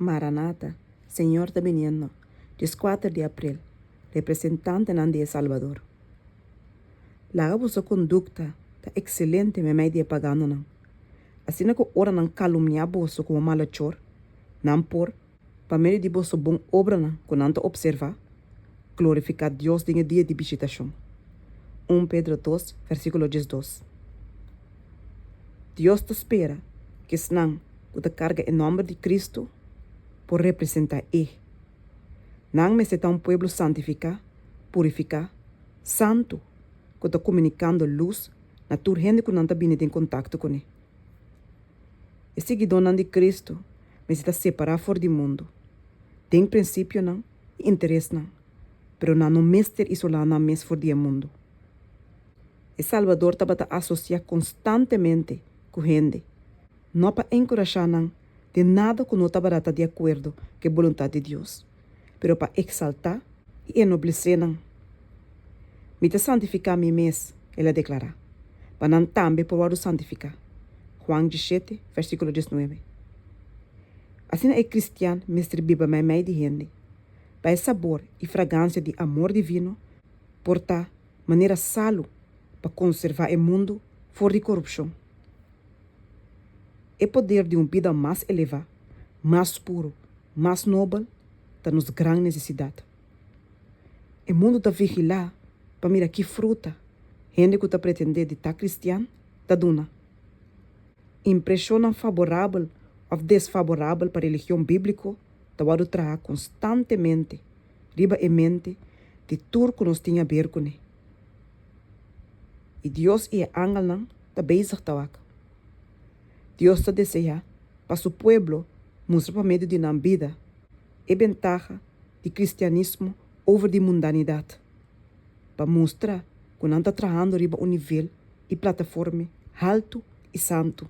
Maranata, Señor ta biniendo, dieskuater di april, Representantenan di e Salbador. Laga boso kondukta ta ekselente meimei di e pagandonan, asina ku ora nan kalumniá boso ku un malechor, nan por, pa medio di boso bon obranan ku nan ta opservá, glorifiká Dios den e dia di bishitashon. Un Pedro dos, versíkulo diesdos. Dios ta spera cu esnan cu ta carga e nomber di Cristo por representa E. Nan mester ta un pueblo santifica, purifica, santo, cu ta comunicando luz na tur hende cu nan ta bini den contacto cu ne. E siguidónan di Cristo mester ta separa for di mundo, den principionan y interesnan, pero nan no mester isola nan mes for di e mundo. E Salbador tabata asosiá konstantemente ku hende, no pa enkurashá nan den nada ku no tabata ta di akuerdo ku e boluntat di Dios, pero pa eksaltá i enoblesé nan. Mi ta santifiká mi mes, el a deklará, pa nan tambe por wòrdu santifiká. Juan diesshete vèrsíkulo diesnuebe. Asina e kristian mester biba meimei di hende, pa e sabor i fragansia di amor divino por ta. manera salu pa konservá e mundu for di korupshon. E poder di un bida mas elevá, mas puru, mas nobel ta nos gran nesesidat. E mundu ta vigilá pa mira ki fruta hende ku ta pretendé di ta kristian ta duna. Impreshonnan faborabel òf desfaborabel pa religion bíbliko ta wòrdu traha konstantemente riba e mente di tur ku nos tin haber kuné. I Dios i e angelnan ta bezig ta waka. Dios ta deseá pa su pueblo mustra pa medio di nan bida e bentaha di kristianismo over di mundanidat, pa mustra ku nan ta trahando riba un nivel i plataforme haltu i santu.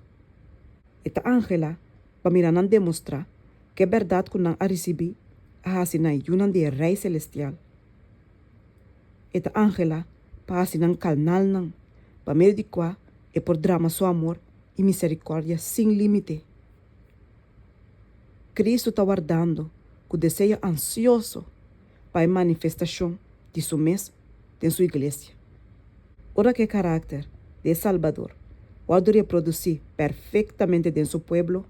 E ta anhelá pa mira nan demostrá ku e bèrdat ku nan a risibí a hasi nan yunan di e Rei selestial. E ta anhelá pa hasi nan kalnalnan, pa medio di kua e por drama su amor i miserikòrdia sin límite. Kristu ta wardando ku deseo ansioso pa e manifestashon di su mes den su iglesia. Ora ku e karakter di e Salbador wòrdu reprodusí perfektamente den su pueblo,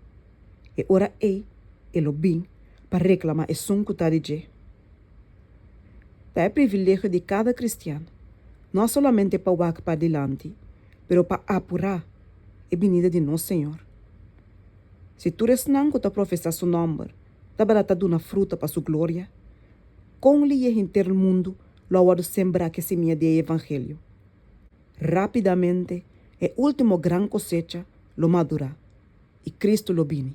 e ora ei e lo bin pa reklamá esun ku ta di dje. Ta e privilegio di kada kristian no solamente pa wak pa dilanti pero pa apurá e binida di nos Señor. Si tur esnan ku ta profesá su nòmber Tabata ta duna fruta pa su gloria? Kon liye henter mundu lo a wòrdu sembrá ku e simia di e evangelio? Rápidamente e último gran kosecha lo madurá, i Kristu lo bini.